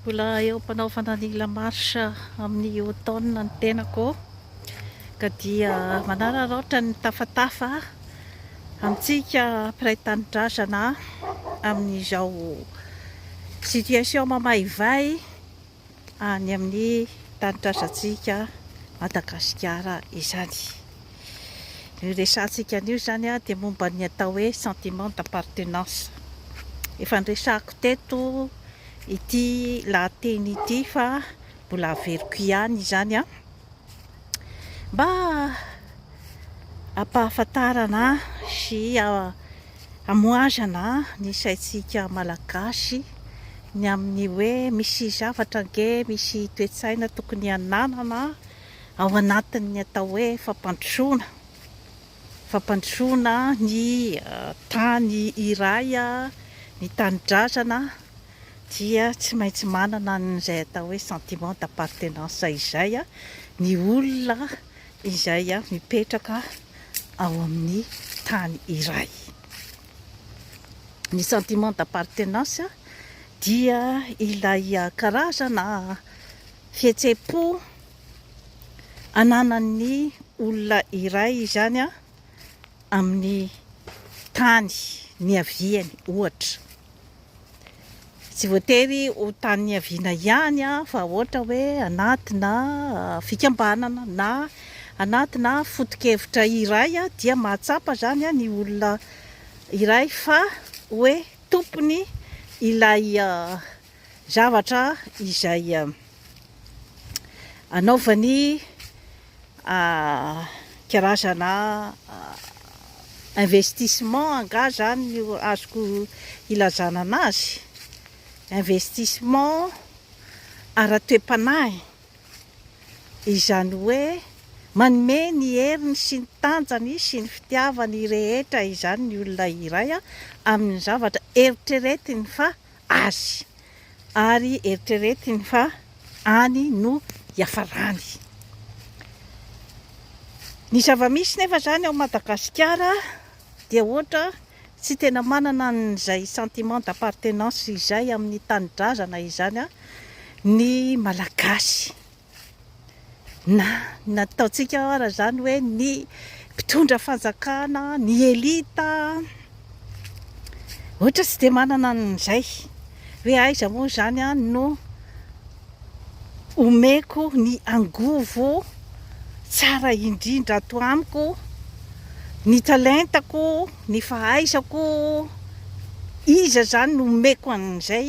Mbola eo am-panaovana ny la marche amin'ny automne ny tenako ka dia manararaotra ny tafatafa amintsika mpiray tanindrazana amin'izao situation mamaivay any amin'ny tany trazantsika Madagasikara izany. Io resahantsika anio izany dia momba ny atao hoe sentiment d'appartenance. Efa niresahako teto ity lahateny ity fa mbola averiko ihany izany mba hampahafantarana sy Hamohazana ny saintsika Malagasy ny amin'ny hoe misy zavatra ange, misy toe-tsaina tokony hananana ao anatin'ny atao hoe fampandrosoana. Fampandrosoana ny tany iray, ny tanindrazana dia tsy maintsy manana an'izay atao hoe sentiment d'appartenance izay ny olona. izay mipetraka ao amin'ny tany iray. Ny sentiment d'appartenance dia ilay karazana fihetseham-po ananan'ny olona iray izany amin'ny tany niaviany ohatra. Tsy voatery ho tany niaviana ihany fa ohatra hoe anatina fikambanana na anatina foto-kevitra iray dia mahatsapa izany ny olona iray fa hoe tompony ilay zavatra izay anaovany karazana investissement angaha zany no azoko ilazana anazy? investissement ara-toe-panahy, izany hoe manome ny heriny sy ny tanjany sy ny fitiavany rehetra izany ny olona iray amin'ny zavatra eritreretiny fa Azy. Ary eritreretiny fa any no hiafarany. Ny zava-misy nefa izany ao Madagasikara dia ohatra tsy tena manana an'izay sentiment d'appartenance izay amin'ny tanindrazana izany ny Malagasy. Na ny nataontsika ara izany hoe ny mpitondra fanjakana, ny elita, ohatra tsy dia manana an'izay hoe aiza moa izany no omeko ny angovo tsara indrindra ato amiko, ny talentako, ny fahaizako, iza izany no omeko an'izay